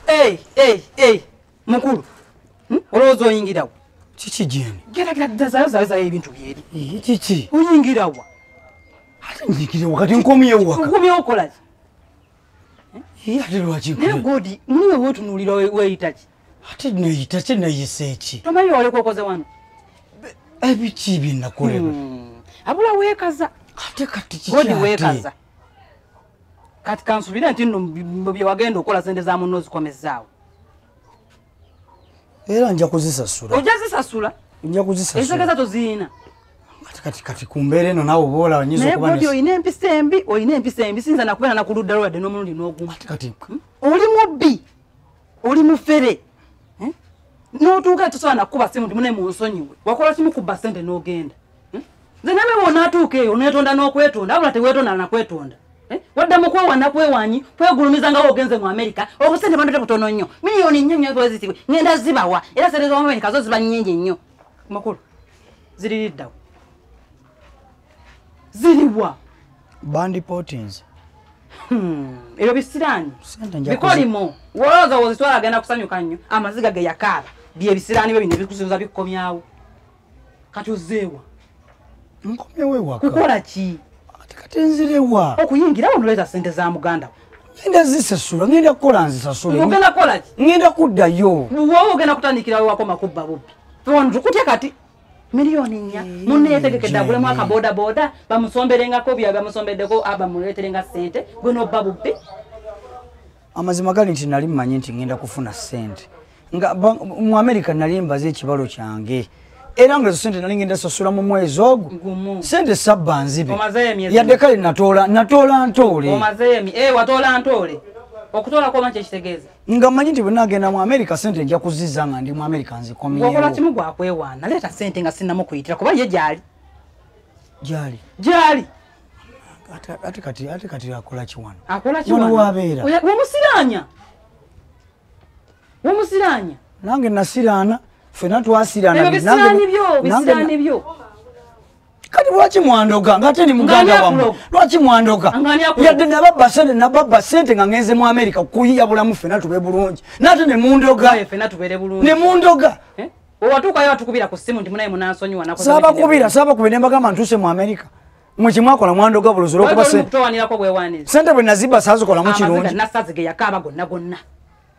Hey, hey, hey. Mukulu. Hmm? Olowooza oyingira wa? Kiki jeni? Gera gera dazayo zayo zayo ebintu byeri. Eh, kiki? Oyingira wa? Ate njikire wakati nkomye waka. Nkomye okola ki? Eh, ate lwaki nkomye. Ne godi, mwe wotu nulira weyita ki? ate noyita ki noyisa eki tomanyi olekokoze wano ebiki byenakolera hmm. abula wekaza ate katigodi wekaza kati kansubire nti no byewagenda okola sente za munno zikomezaawo era nja kuzisasula oja zisasula nja kuzisasula ezegeza toziyina kati kati kumbere no nawo bola nyizo kuba naye bodio ine mpisa embi oyine mpisa embi sinza nakubera nakuludda lwade nomulundi noguma kati kati hmm? oli mubbi oli mufere eh? notuuka tosobola nakukuba simu ndimune munsonyiwe wakola kimu kubba sente nogenda eh? nze name wonatuuka eyo onetonda nokwetonda abula tewetonda nakwetonda eh? wadda mukwewa nakwewanyi kwegulumiza nga wogenze mu amerika obusente bandate butono nnyo miliyoni nnyo nyo bwezitibwe ngenda zibawa era sente zomumerika zo ziba nyingi nnyo makulu ziririddawo ziriwa bandi potins hmm. ebyo bisiraani bikolimo wolowooza wozitwala agenda kusanyuka nnyo amaziga ge yakaaba byebisiraani byo bino bikusuuza bikukomyawo kati ozeewa nkomyewewa kukola ki ati kati nzirewa okuyingira wo noleeta sente za muganda ngenda zisasula ngenda kukola nzisasulengenda kukola ki ngenda kuddayo wowe ogenda kutandikirawo wakoma kubba bubbi tukutyekati miliyoni nnya eh. munne yetegekedde agulemu akabodaboda bamusomberengako bya bamusombeddeko ah, bamuleeterenga ssente gwe nobba bubbi amazima gali nti nali mmanyi nti ngenda kufuna ssente nga mu amerika nali mbaze ekibalo kyange era nga ezo sente nali ngenda sasula mu mwezi ogwo sente sabba nzibe yadde kale natoola natoola ntoole eh, watoola ntoole okutoola kwoma kyekitegeeza nga manyi nti bwenagenda mu america sente nja kuziza nga ndi mu america nzikomeokola kimu gwakwewaana leeta sente nga sinamu kuyitira kuba ye gyali gyali gyali ate kati ate kati akola kiwano akola kiwano wabeera wamusiranya wamusiranya nange nasiraana fena twasiraana nange nange kati lwaki mwandoga nga ate ni muganda wamu lwaki mwandoga yadde nababba sente nababba sente nga ngenze mu amerika kuyiya bulamu fena tube bulungi nate ne mundoga ne mundoga eh? owatuukayo atukubira ku simu nti munaye munansonyiwa sabakubira sabakubira nembagamba ntuuse mu amerika mwekimwakola mwandoga buluzira okuba sente bwe nazibba sazikolamu kirungi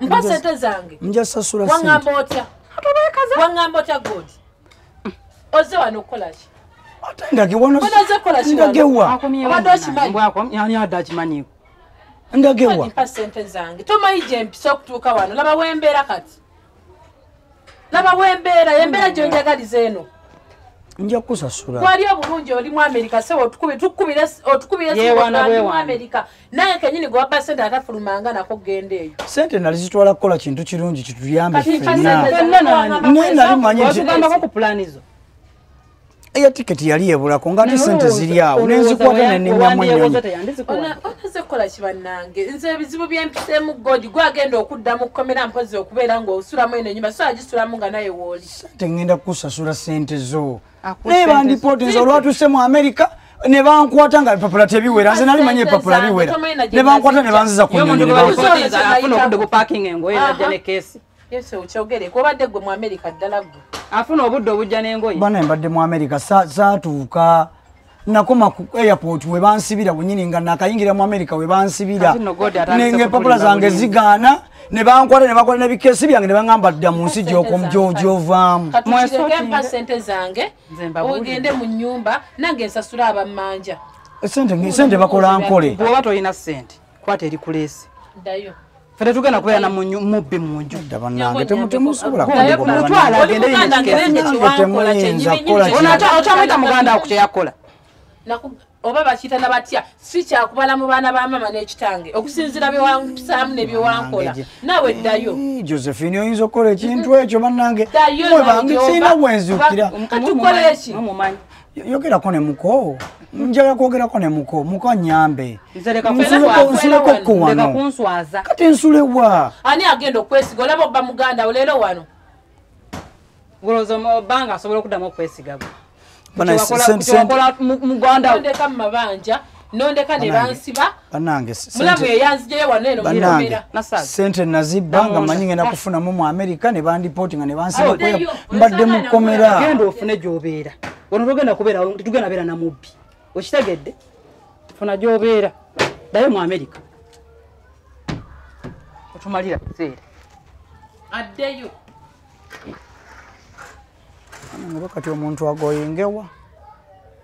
mpa sente zange nja sasula wangamba otya wangamba otya god oze wano okukolaki ndagewa tomanyi gyempisa okutuuka wano laba wembeera kati laba wembeera yembeera gyonjagaliza eno nja kukusasula wali obulungi oli mu amerika se otukubiraotukubiraewanali mu amerika naye kenyini gwewabba sente atafulumanga nako kugenda eyo sente nali zitwala kukola kintu kirungi kituyambe fenna naye nali manyi eya ticket yali ebulako nga ate sente ziri awo nenzikwata neninyamu enyonyi nze ebizibu byempisemu god gwagenda okuddamu kukomera mpozi okubeera ngaosulamu eno enyuma so agisulamu nga naye wooli sente ngenda kukusasula sente zo naye bandipooti nze olwatuse mu america nebankwata nga bipapula tebiwera nze nali manya ebipapula biwera nebankwata nebanziza ku nyonyi Yesu okyogere kuba badde gwe mu America ddala gwe. Afuna obudde obujja n'engoye. Bana mbadde mu America saatuuka nakoma ku airport we bansibira wenyini nga nakayingira mu America we bansibira. Nenge papula zange zigaana. ne bankwata ne bakola nebikesi byange ne baŋamba dda mu nsi gyokomjojovaamu sente zange ogende mu nyumba nange nsasula abammanja sente bakola nkole oba tolina sente kwata eri kulesi dayo fete tugenda kubeera na munyu mubbi munju banange temusobola kumutwala agende yekiaokyamwita muganda wo kukyeyakola oba bakiyita na batya si kyakubala mu baana ba maama n'ekitange okusinziira byewantusaamu nebyewankola naawe ddayo josephine oyinza okukola ekintu ekyo bannange dayo kirina wenzukira katukoleki yogerako ne muko njala kwogerako ne muko muko nyambe nsuleko ko wano kati nsule wa ani agenda okwesiga olaba obba muganda olero wano ngolowooza obanga asobola okuddamu okwesiga gwe muganda ndeka mu mabanja nondeka ne bansiba banange mulamu eyanzijeyo wano eno banange sente nazibba nga manyi ngenda kufunamu mu america ne bandipoti nga ne bansiba mbadde mukomera genda ofune gyobeera wano togenda kubeera tugenda beera na mubbi okitegedde funa gyobeera dayo mu america otumalira kuseera addeyo nga bakati omuntu agoyengewa